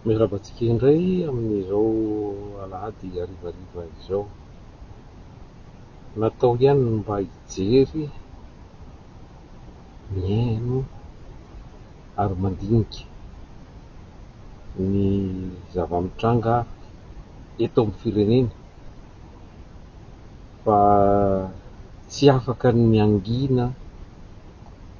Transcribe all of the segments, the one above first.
Miarahaba antsika indray amin'izao alahady harivariva izao. Natao ihany ny mba hijery, mihaino ary mandinika ny zava-mitranga eto amin'ny firenena fa tsy afaka ny hangina.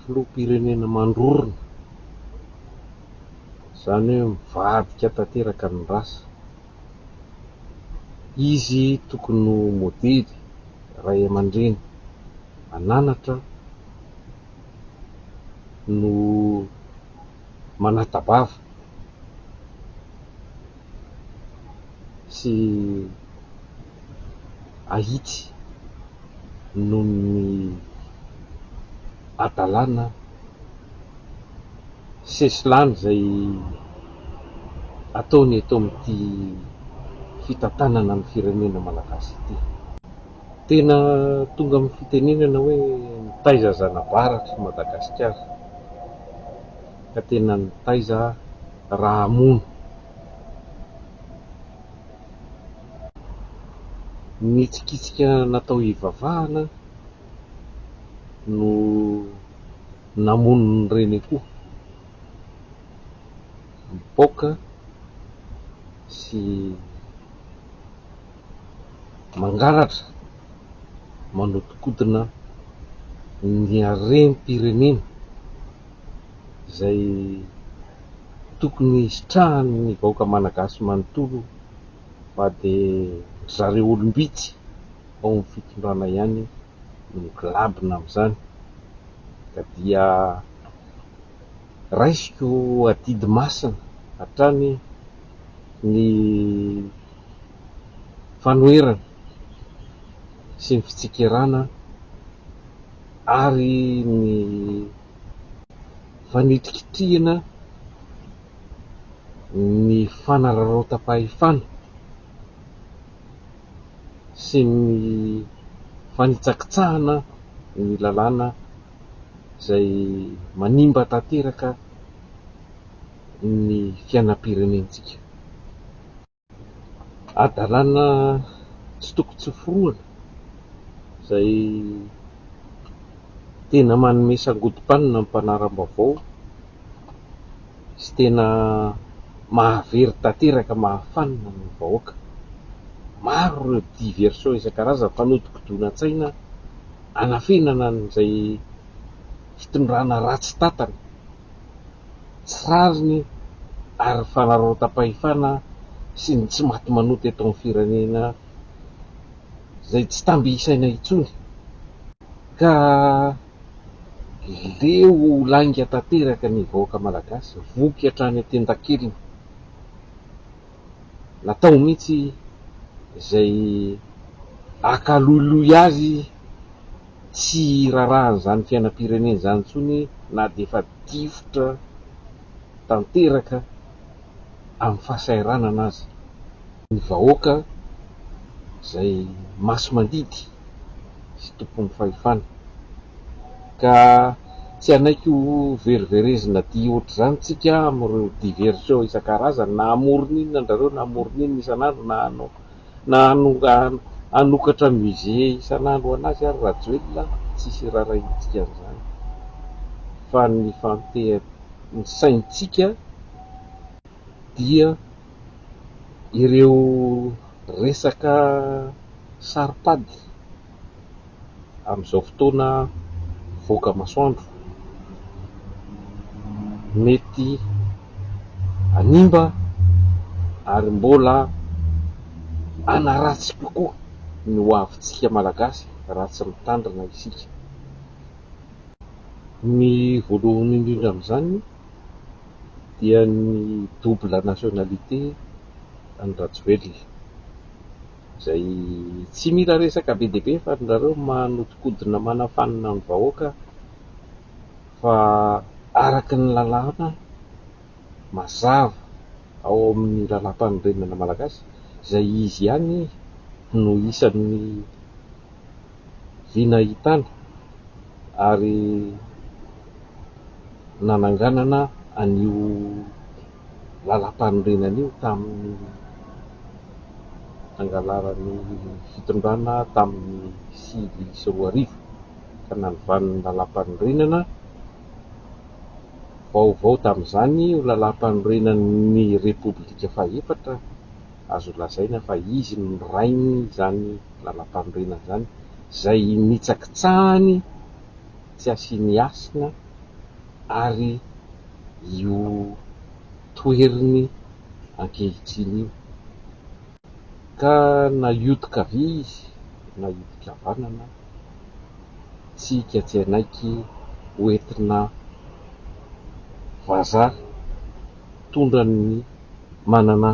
filoham-pirenena mandrorona, izany hoe mivadika tanteraka ny rasa. Izy tokony ho modely, ray aman-dreny ananatra no. manata-bava sy ahitsy noho ny hadalana sesilany izay ataony eto amin'ity fitantanana ny firenena malagasy ity. Tena tonga amin'ny fitenenana hoe mitaiza zana-baratra i Madagasikara ka tena nitaiza aho raha hamono. Ny hitsikitsika natao hivavahana no namono ny reniko mipoaka sy. mangalatra manodikodina ny harem-pirenena izay tokony hisitrahan'ny vahoaka malagasy manontolo fa dia ry zareo olom-bitsy ao amin'ny fitondrana ihany no miglabona amin'izany ka dia raisiko adidy masina hatrany ny fanoherana sy ny fitsikerana ary ny fanitikitrihina ny fanararaotam-pahefana sy ny fanitsakitsahana ny lalàna izay manimba tanteraka ny fiainam-pirenentsika. Hadalana tsy tokony tsy hoforohana izay tena manome sangodim-panina ny mpanara-baovao sy tena mahavery tanteraka mahafanina ny vahoaka. Maro ireo diversion isan-karazany fanodikodonantsaina anafenana an'izay fitondrana ratsy tantana. tsy rariny ary ny fanararaotam-pahefana sy ny tsy maty manota eto amin'ny firenena izay tsy tamby isaina intsony ka leo ho lainga tanteraka ny vahoaka malagasy, voky hatrany an-tendan-keliny. Natao mihitsy izay hakaloiloy azy. tsy irarahan'izany fiainam-pirenena izany intsony na dia efa difotra tanteraka amin'ny fahasahiranana aza ny vahoaka izay masi-mandidy sy tompon'ny fahefana. Ka tsy hanaiky ho veriverezina aty ohatr'izany tsika amin'ireo diversion isan-karazany na hamoron' inona an-drareo na hamoron' inona isan'andro na hanao Na hanokatra musée isan'andro an'azy ary Rajoelina tsisy hirarahintsika an'izany fa ny fampian'ny saintsika dia ireo resaka saro-pady. amin'izao fotoana mivoaka masoandro, mety hanimba ary mbola hanaratsy kokoa ny ho avintsika Malagasy raha tsy mitandrina isika. Ny voalohany indrindra amin'izany dia ny double nationalité an'i Rajoelina. izay tsy mila resaka be dia be fa ry zareo manodinkodina manafanina ny vahoaka fa araka ny lalàna mazava ao amin'ny lalàmpanorenana malagasy izay izy ihany no isan'ny vinahitana ary nananganana an'io lalampanorenana io tamin'ny nangalaran'ny fitondrana tamin'ny sivy sy roa arivo ka nanovany ny lalampanorenana vaovao tamin'izany ho lalampanorenan'ny repoblika fahefatra, azo lazaina fa izy no nirainy izany lalampanorenana izany izay nitsakitsahany tsy asiany hasina. ary io toeriny ankehitriny io ka na hioty kavia izy na hioty kavanana tsika tsy hanaiky ho entina vazaha tondran'ny manana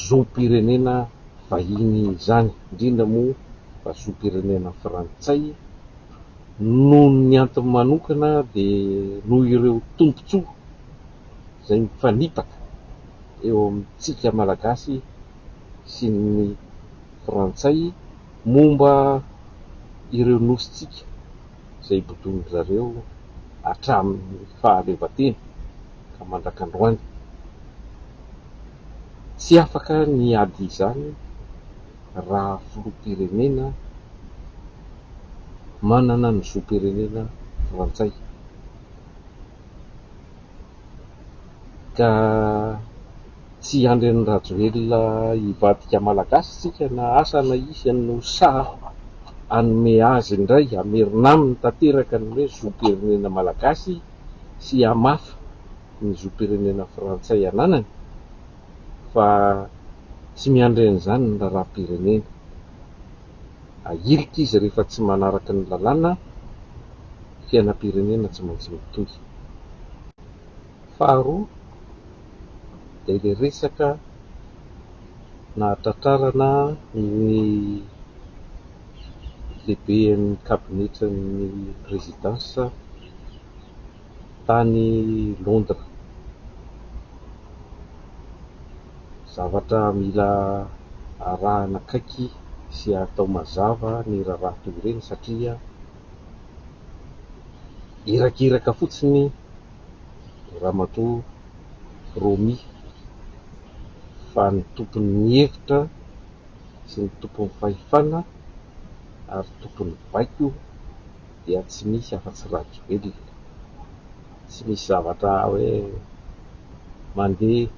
zom-pirenena vahiny izany indrindra moa fa zom-pirenena frantsay Noho ny antony manokana dia noho ireo tombontsoa izay mifanipaka eo amintsika Malagasy sy ny Frantsay momba ireo nosintsika izay ibodoan-dry zareo hatramin'ny fahaleovantena ka mandraka androany. Tsy afaka ny hiady izany raha filoham-pirenena manana ny zom-pirenena frantsay ka tsy andrin'i Rajoelina hivadika malagasy tsika na asa na iza no sahy hanome azy indray hamerina aminy tanteraka ny hoe zom-pirenena malagasy sy hamafa ny zom-pirenena frantsay ananany fa tsy miandry an'izany ny raharaham-pirenena. Ahilika izy rehefa tsy manaraka ny lalàna, fiainam-pirenena tsy maintsy mitohy. Faharoa dia ilay resaka nahatratrarana ny lehiben'ny kabinetran'ny prezidansa. tany Londres. Zavatra mila arahana akaiky sy atao mazava ny raharaha toy ireny satria irakiraka fotsiny Ramatoa Romy fa ny tompon'ny hevitra sy ny tompon'ny fahefana ary tompon'ny baiko dia tsy misy afa-tsy Rajoelina. Tsy misy zavatra hoe mandeha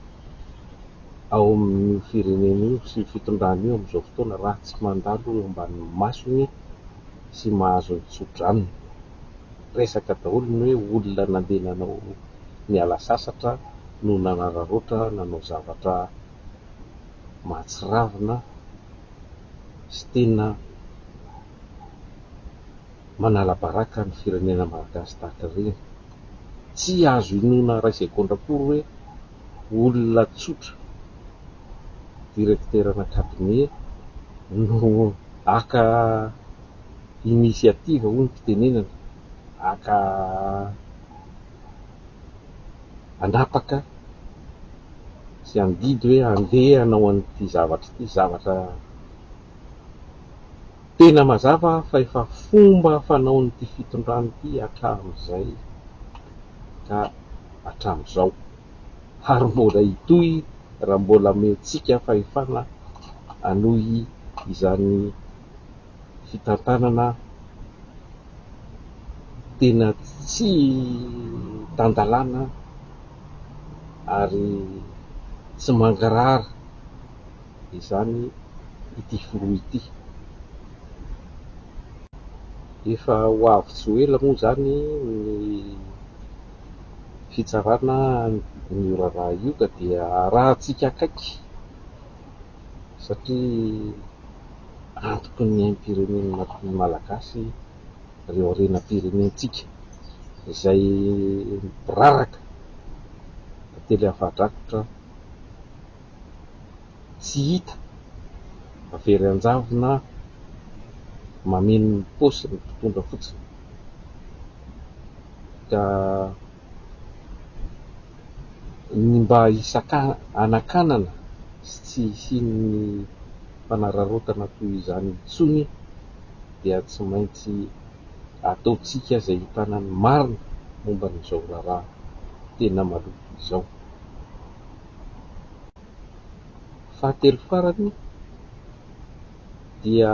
ao amin'io firenena io sy io fitondrana io amin'izao fotoana raha tsy mandalo eo ambanin'ny masony sy mahazo ny tsodranony. Resaka daholo ny hoe olona nandeha nanao niala sasatra no nanararaotra nanao zavatra mahatsiravina. sy tena manala baraka ny firenena Malagasy tahaka ireny. Tsy azo inoana iray segondra akory hoe olona tsotra, directeurana cabinet, no haka initiative hoy ny fitenenana, haka. hanapaka sy handidy hoe handeha hanao an'ity zavatra ity, zavatra tena mazava fa efa fomba fanaon'ity fitondrana ity hatramin'izay ka hatramin'izao ary mbola hitohy raha mbola omentsika fahefana hanohy izany fitantanana tena tsy tan-dalàna ary tsy mangarahara izany ity filoha ity. Efa ho avy tsy ho ela moa izany ny fitsarana an'io raharaha io ka dia arahintsika akaiky. satria antoky ny aim-pirenen'ny Malagasy ireo harenam-pirenentsika izay miraraka tantely afa-drakotra tsy hita fa very an-javona mameno ny paosy ny mpitondra fotsiny ka ny mba hisakahanakanana sy tsy hisian'ny fanararaotana toy izany intsony dia tsy maintsy ataontsika izay hitana ny marina momba an'izao raharaha tena maloto izao. Fahatelo farany, dia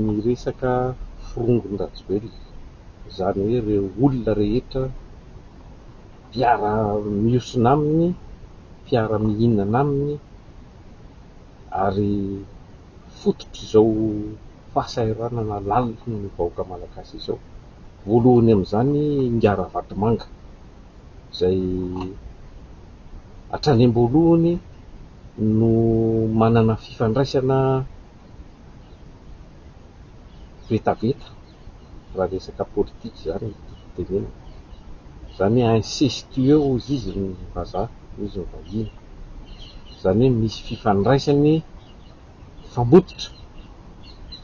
ny resaka forongon-dRajoelina, izany hoe ireo olona rehetra mpiara-miosona aminy, mpiara-mihinana aminy ary fototr'izao fahasahiranana lalina ny vahoaka malagasy izao. Voalohany amin'izany i Ingahy Ravatomanga izay... hatrany am-boalohany no manana fifandraisana vetaveta raha resaka politika izany no tenenina. Izany hoe incestueux hoy izy ny vazaha, hoy izy ny vahiny. Izany hoe misy fifandraisany mifamototra,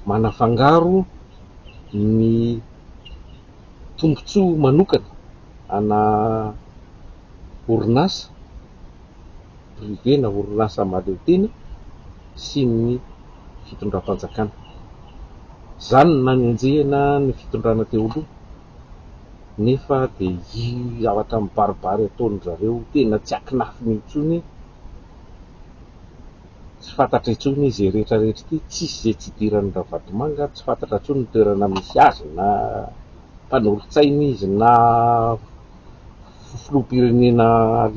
manafangaro ny. tombontsoa manokana ana orinasa privé na orinasa mahaleotena sy ny fitondram-panjakana. Izany no nanenjehina ny fitondrana teo aloha nefa dia io zavatra mibaribary ataon-dry zareo tena tsy akinafiny intsony. Tsy fantatra intsony izy rehetra rehetra ity, tsisy izay tsy idiran'ny Ravatomanga, tsy fantatra intsony ny toerana misy azy na mpanolotsaina izy na filoham-pirenena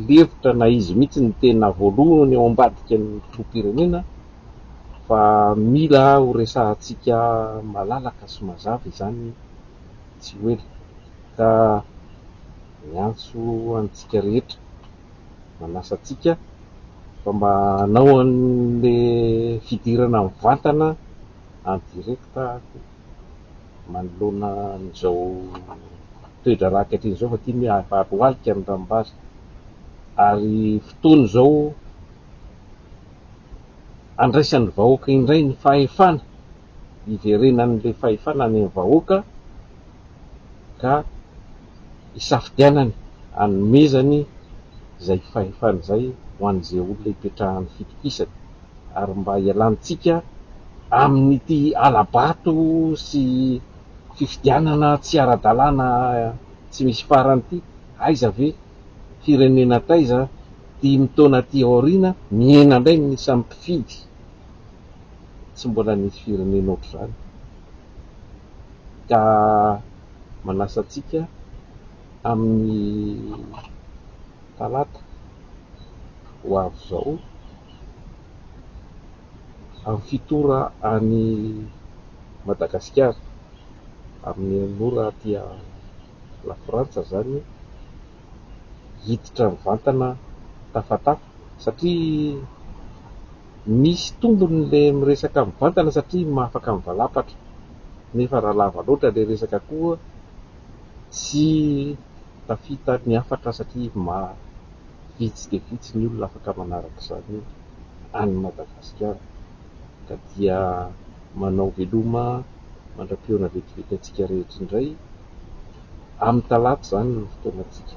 lefitra na izy mihitsy ny tena voalohany ao ambadika ny filoham-pirenena fa mila ho resahantsika malalaka sy mazava izany tsy ho ela ka miantso antsika rehetra manasa antsika fa mba hanao an'ilay fidirana mivantana en direct manoloana an'izao toe-draharaha ankehitriny izao fa tiany hoe harohalika ny ranombary ary fotoana izao handraisan'ny vahoaka indray ny fahefana, hiverenan'ilay fahefana any amin'ny vahoaka ka. isafidianany hanomezany izay fahefany izay ho an'izay olona hipetrahany fitokisany ary mba hialantsika amin'ity hala-bato sy fifidianana tsy ara-dalàna tsy misy farany ity, aiza ve firenena taiza dimy taona aty aoriana mihena indray ny isan'ny mpifidy, tsy mbola nisy firenena ohatr'izany ka. manasa antsika amin'ny talata ho avy izao amin'ny fito ora any Madagasikara, amin'ny enina ora aty Lafrantsa izany, hiditra mivantana tafatafa satria. Misy tombony le miresaka mivantana satria mahafaka mivalapatra nefa raha lava loatra le resaka koa tsy tafita ny hafatra satria ma vitsy dia vitsy ny olona afaka manaraka izany any Madagasikara ka dia manao veloma mandrapihaona vetivety antsika rehetra indray amin'ny talata izany ny fotoanantsika.